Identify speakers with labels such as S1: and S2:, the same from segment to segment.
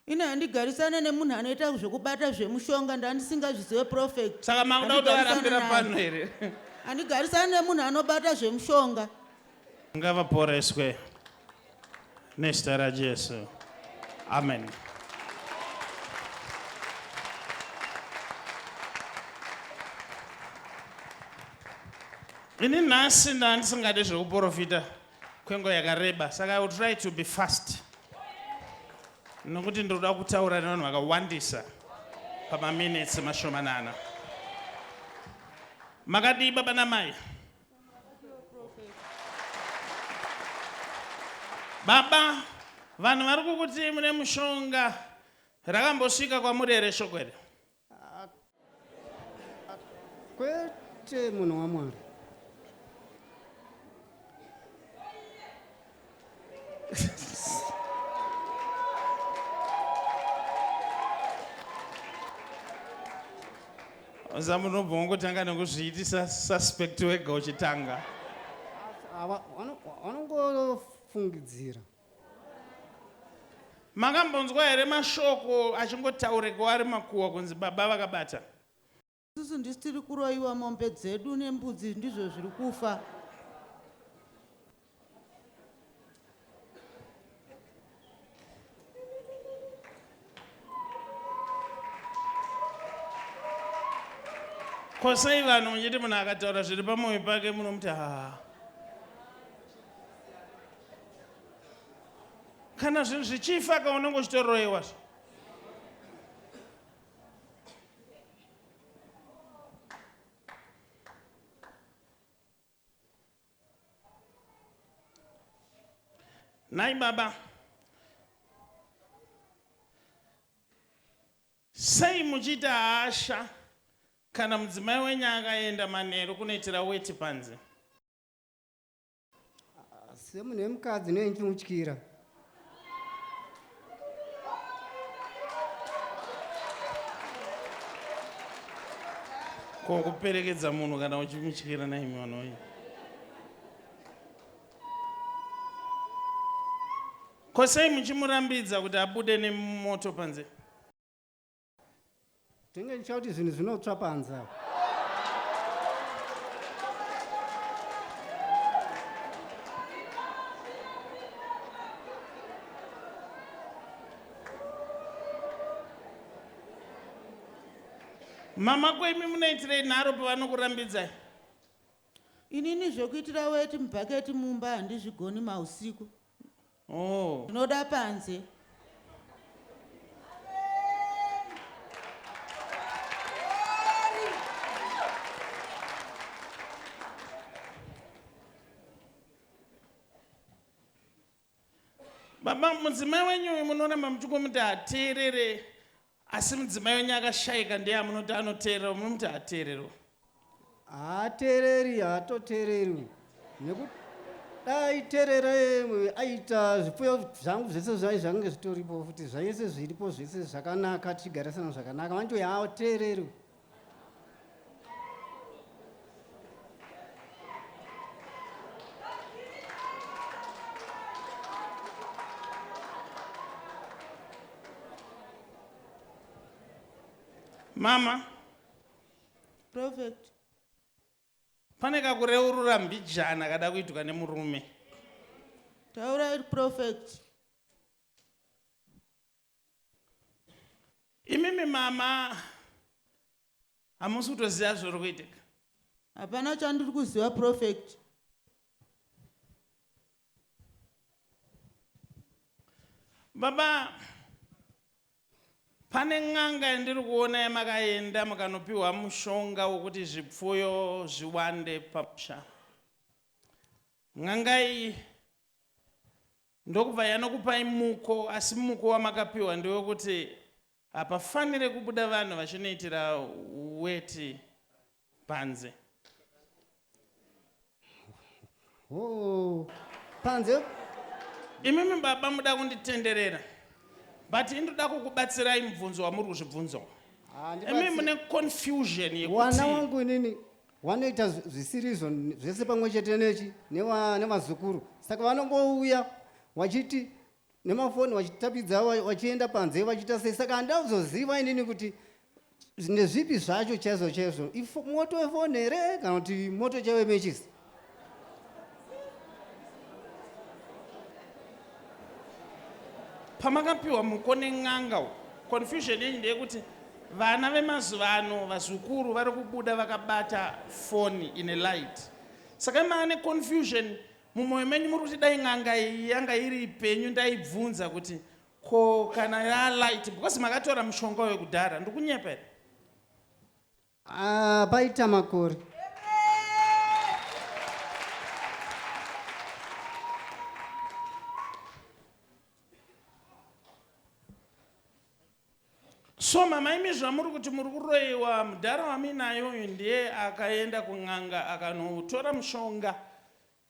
S1: Ini handigarisane nemunhu anoita zvekubata zvemushonga ndandisingazvizive prophet. Saka makuda kutovarambira
S2: pano here? Handigarisane
S1: nemunhu anobata zvemushonga. Ngavaporeswe
S2: nezita raJesu. Amen. Ini nhasi ndandisingade zvekuporofita kwenguva yakareba saka i will try to be fast nokuti ndinoda kutaura nevanhu vakawandisa pamaminitsi mashomanana makadii baba namai baba vanhu vari kukuti mune mushonga rakambosvika kwamuri here shoko here
S3: Kwete munhu waMwari.
S2: Oza munobva wongotanga nekuzviitisa suspect wega uchitanga.
S3: Vanongofungidzira.
S2: Makambonzwa here mashoko achingotauregwa ari makuhwa kunzi baba vakabata. Isusu
S1: ndisu tiri kuroiwa mombe dzedu nembudzi ndizvo zviri kufa.
S2: ko sei vanhu muchiti munhu akataura zviri pamwoyo pake munomuti haa kana zvinhu zvichifa ka unenge uchitoroyewa zvo Nhai baba, sei muchiita hasha kana mudzimai wenyu akaenda manheru kunoitira weti panze?
S3: Semunhu wemukadzi nei ndichimutyira?
S2: ko kuperekedza munhu kana uchimutyira naimi vanoyi ko sei muchimurambidza kuti abude nemoto panze
S3: tenge nditya kuti zvinhu zvinotsva panze apa
S2: mama ko imi munoitirei nharo pavanokurambidzai
S1: inini zvekuitira weti mubhaketi mumba handizvigoni mausiku Oh.
S2: Tinoda panze. Baba mudzimai wenyu uyu munoramba muchikumuti hateerere Asi mudzimai wenyu akashaika ndiye amunoti anoteererwa munomuti haateererwa. Haateereri
S3: haatoteererwi nekuti dai terera aita zvipfuyo zvangu zvese zvai zvange zvitoripo futi zvaese zviripo zvese zvakanaka tichigarisana zvakanaka vanoti haateererwi.
S2: mama
S1: prophet
S2: pane kakureurura mbijana kada kuitwa nemurume
S1: taurai prophet
S2: Imimi mama hamusi kutoziva zviri kuitika. Hapana
S1: chandiri kuziva prophet.
S2: Baba pane n'anga yandiri kuona yamakaenda mukanopiwa mushonga wekuti zvipfuyo zviwande pamusha. N'anga iyi Ndokubva yanokupai muko asi muko wamakapiwa ndewekuti hapafanire kubuda vanhu vachinoitira weti panze.
S3: Hoo panze.
S2: Imimi baba muda kunditenderera but ini ndoda kukubatsirai mubvunzo wamuri kuzvibvunza uyu. Imimi Handibats. mune confusion Wana yekuti wangu inini.
S3: Wanoita zvisirizvo zvese pamwe chete nechi nevazukuru neva saka vanongouya wachiti nemafoni wachitapidza wachienda panze wachiita sei saka handida kuzoziva inini kuti nezvipi zvacho chaizvo chaizvo moto wefoni here kana kuti moto chaiwe mechisi
S2: pamakapiwa muko nen'anga uko confusion yenyu ndeyekuti vana vemazuva ano vazukuru vari kubuda vakabata foni ine light saka maa neconfusion mumwoyo menyu muri kuti dai n'anga iyi yanga iri penyu ndaibvunza kuti ko kana yalight because makatora mushonga wekudhara ndikunyepera Haa
S3: paita makore.
S2: So mama imi zvamuri kuti muri kuroiwa mudhara wamuinaye uyu ndiye akaenda kun'anga akanotora mushonga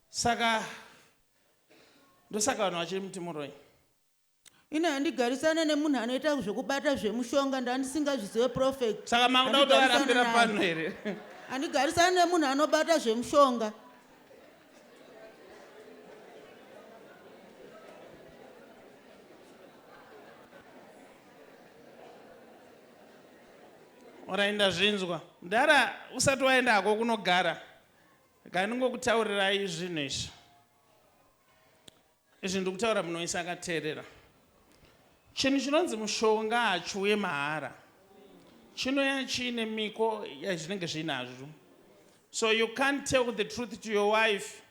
S2: saka ndosaka vanhu vachiri muti muroi.
S1: Ini handigarisane nemunhu anoita zvekubata zvemushonga ndandisingazvizive prophet. Saka makuda kuti varapira
S2: pano here? Handigarisane
S1: nemunhu anobata zvemushonga.
S2: Orai ndazvinzwa. Mdara usati waenda hako kunogara. Rega ndingokutaurirai zvinhu izvi. Izvi ndiri kutaura munhu wese akateerera. Chinhu chinonzi mushonga hachiuye mahara. Chinouya chiine miko yazvinenge zviinazvo. So you can't tell the truth to your wife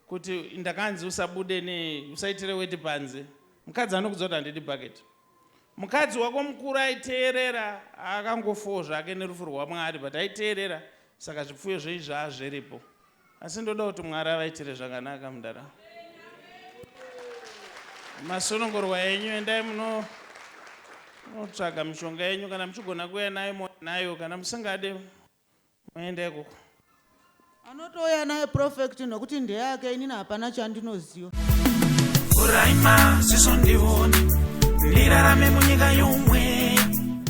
S2: kuti ndakanzi usabude ne usaitire weti panze. Mukadzi anokudza kuti handidi bucket. Mukadzi wako mukuru aiteerera akangofowo zvake nerufu rwaMwari but aiteerera saka zvipfuyo zveizvi haa zviripo. Asi ndoda kuti Mwari avaitire zvakanaka mdara. Masunungurwa enyu endai muno munotsvaga mishonga yenyu kana muchigona kuuya nayo mouya nayo kana musingade moenda ikoko.
S1: Anotouya naye Profect nokuti ndeyake inini hapana chandinoziva.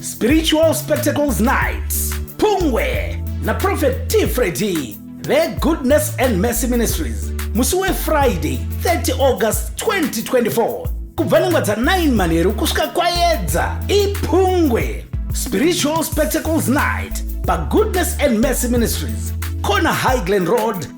S4: Spiritual Spectacles Night Pungwe na Prophet T Freddy ve Goodness and Mercy Ministries musi wefriday 30 august 2024 kubva nengwa dza 9 manheru kusvika kwayedza ipungwe spiritual spectacles night pagoodness and mercy ministries corner highglen road